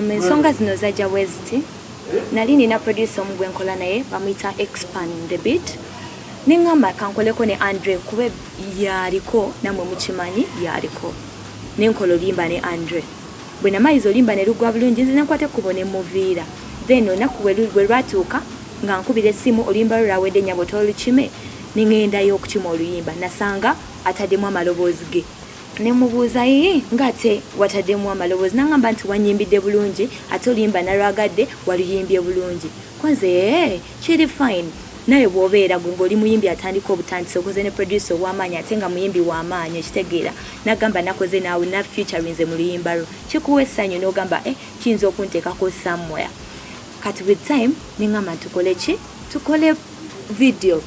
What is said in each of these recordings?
Um, ensonga zino zajja bweziti nali nina producer omu gwenkola naye bamuyita expan the beat neŋamba kankoleko ne andre kuba yaliko namwe mukimanyi yaliko nenkola oluyimba ne andre Bwe namayiza oluyimba ne luggwa bulungi nze ne nkwata ekkubo ne mmuviira. Then olunaku bwe lwatuuka nga nkubira essimu oluyimba lwo lwawedde nnyabo tolukime ne ng'endayo okukima oluyimba nasanga ataddemu amaloboozi ge. Ne mmubuuza yii ng'ate wataddemu amaloboozi n'angamba nti wannyimbidde bulungi ate oluyimba nalwagadde waluyimbye bulungi. Ko nze eeh! Kiri fine nawe bwobeera gwe ngoli muyimbi atandika obutandisi okoze ne producer owamaanyi ate nga muyimbi wamaanyi okitegeera nagamba nakoze naawe na futurinze mu luyimba lwo kikuwa essanyu nogamba eh kiyinza okunteekako somewhere kati with time nengamba tukole ki tukole video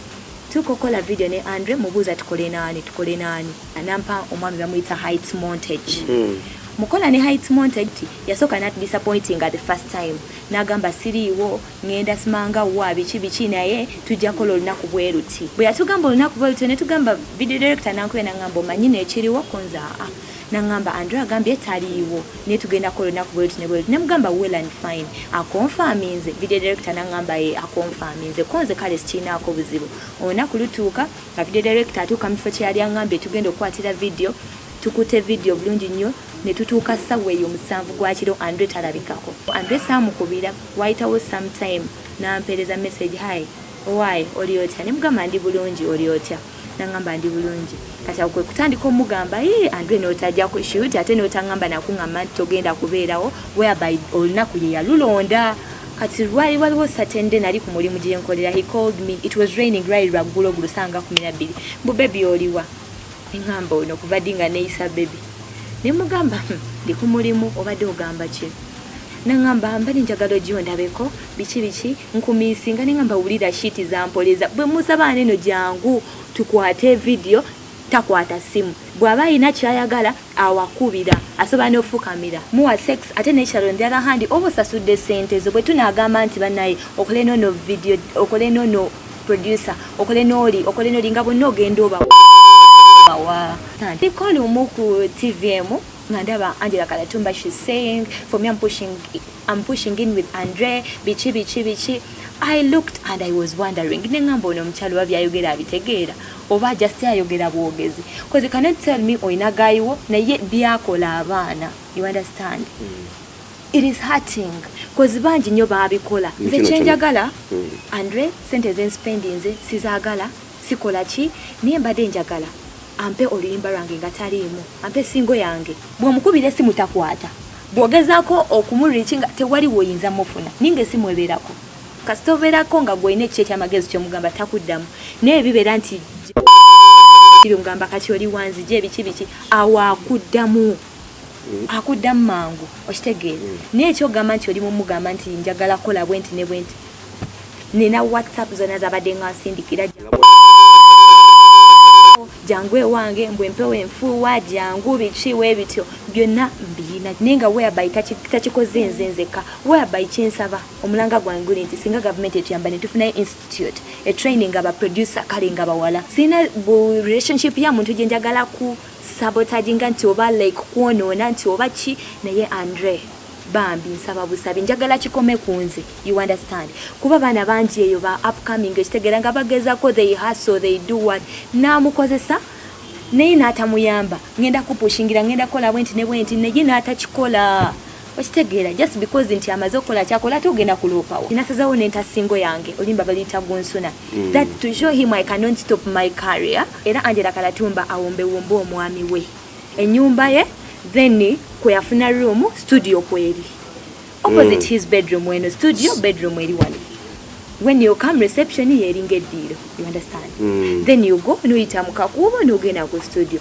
tukokola video ne andre mubuuza tukole naani tukole naani anampa omwami bamuyita height montage hmm. mukola ne height montage yasooka nat disappointing at the first time nagamba siriiwo Ngenda simanga wa biki biki naye tujja kola olunaku bweruti bwe yatugamba olunaku bweruti ne tugamba video director nankuya nangamba omanyi nekiriwo kunza a nangamba Andrew agambye taliiwo ne tugenda kola olunaku bweruti ne bweruti ne mugamba well and fine akonfaminze video director nangamba ye akonfaminze konze kale sikirinaako buzibu olunaku lutuuka nga video director atuuka mu kifo kye yali angambye tugenda okukwatira video tukute video bulungi nnyo ne tutuuka ssabwa eyo omusanvu gwakiro andre talabikako andre saamukubira Waayitawo some time n'ampeereza message, Hi, owaaye oli otya? Ne mugamba ndi bulungi, oli otya? N'angamba ndi bulungi. Kati awo kwe kutandika omugamba, Yii, Andrew n'otajja ku shoot ate n'otangamba na kungamba nti togenda kubeerawo whereby olunaku ye yalulonda. Kati lwali waliwo certain day nali ku mulimu gye nkolera, he called me, it was raining, lwali lwa ggulo ggulo ssaawa nga kumi na bbiri, mbu baby oliwa? Nengamba ono kuva di nga neyisa baby nemugamba hmm, ndi ku mulimu obadde ogamba ki nangamba mbali njagala ogiwo ndabeko biki biki nkumisinga nengamba wulira shiti zampoleza bwe musaba neno jangu tukwate vidiyo takwata simu bw'aba alina kyayagala awakubira asobola n'ofukamira muwa sex ate nekyalo njala handi oba osasudde sente zo bwe tunaagamba nti banaye okolenono vidiyo okolenono producer okole noli okole noli nga bonna ogenda oba wa ndiko lumu ku tvm nga ndaba angela kalatumba she saying for me I'm pushing, I'm pushing in with andre biki biki biki i looked and i was wondering nengamba ono omukyalo oba byayogera abitegeera oba just ayogera bwogezi bcause you cannot tell me oyina gayiwo naye byakola abaana you understand mm. It is hurting cause bangi nyo babikola nze kyenjagala hmm. andre sente zenspendi nze sizagala sikola ki naye mbadde njagala ampe oluyimba lwange nga taliimu ampe singo yange bwomukubira esimu takwata bwogezako okumuliriki nga tewali woyinza mufuna ninga esimu ebeerako kasita obeerako nga gwolina ekiki ekyamagezi kyomugamba takuddamu naye bibeera nti kiri omugamba kati oli wanzija ebiki biki awaakuddamu Eh. akuddamu mangu okitegeera eh. naye ekyogamba nti oli mumugamba nti njagala kukola bwenti ne bwenti nina whatsapp zona zabadde nga nsindikira jangu ewange mbu empewo enfuuwa jangu biki we bityo byonna mbiyina naye nga weaby takikoze nze nzekka weaby kyensaba omulanga gwange guli nti singa gavumenti etuyamba netufunayo institute etraining abaproducer kale nga bawala sirina relationship ya muntu gyenjagala ku sabotaginga nti oba like kwonoona nti oba ki naye Andre bambi nsaba busabi njagala kikome kunze you understand kuba baana bangi eyo ba upcoming ekitegera nga bagezako they hustle they do what namukozesa naye natamuyamba ngenda kupushingira ngenda kola bwenti ne bwenti naye natakikola okitegeera just because nti amaze okukola kyakola ate ogenda kuloopawo nasazawo nentasingo yange olimba baliyita gunsuna mm. that to show him i cannot stop my career era angela kalatumba awombewombe omwami we enyumba ye then kweyafuna room studio kweri opposite mm. his bedroom weno studio bedroom eri wali when you come reception yeringa eddiiro you understand mm. then you go noyita mukakuubo nogenda ku studio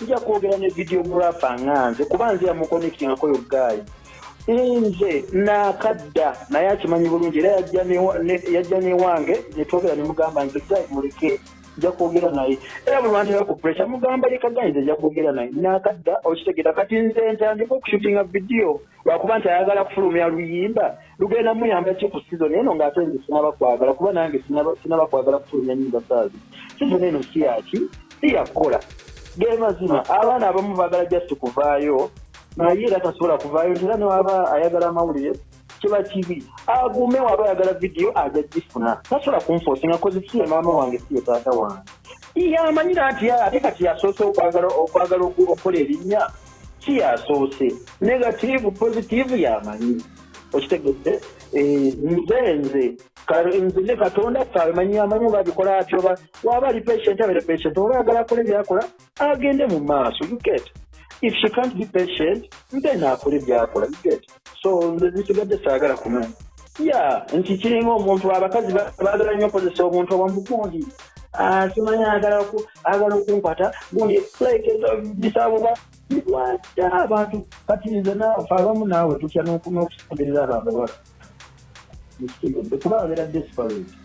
Nja kwogera ne videographer nga nze kuba nze yamuconnectingako yo guy nze nakadda naye akimanyi bulungi era yajja newange netwogera nemugamba nze guy muleke nja kwogera naye era bulwantera ku pressure mugamba leka guy nze nja kwogera naye nakadda okitegera kati nze ntandika okushutinga vidiyo lwakuba nti ayagala kufulumya luyimba Lugenda muyamba ki ku sizoni eno ng'ate nze sinaba kwagala kuba nange sinaba kwagala kufulumya nyimba saazi sizoni eno si yaki si yakukola ge mazima abaana abamu baagala just kuvaayo naye era tasobola kuvaayo era newaba ayagala amawulire kiba kibi agume waba ayagala vidiyo aja gifuna tasobola kunfoosinga kozi si ye maama wange si ye taata wange yamanyira nti ate kati yasoose okwagala okukola erinnya si yasoose negativu positivu yamanyi okitegedde eh, nze nze nze ne katonda ffe abimanyi amanyi oba abikola ati oba waba ali patient abere patient oba ayagala akole byakola agende mu maaso you get if she can't be patient then akole byakola you get so nze zisigadde saagala kumanya ya nti kiringa omuntu abakazi baagala nnyo okozesa omuntu owamukundi ah, simanyi agala okunkwata gundi like eh, bisabuba lwaki abantu kati nze naawe abamu naawe tutya n'okusemberera abo abawala kuba abeera desperate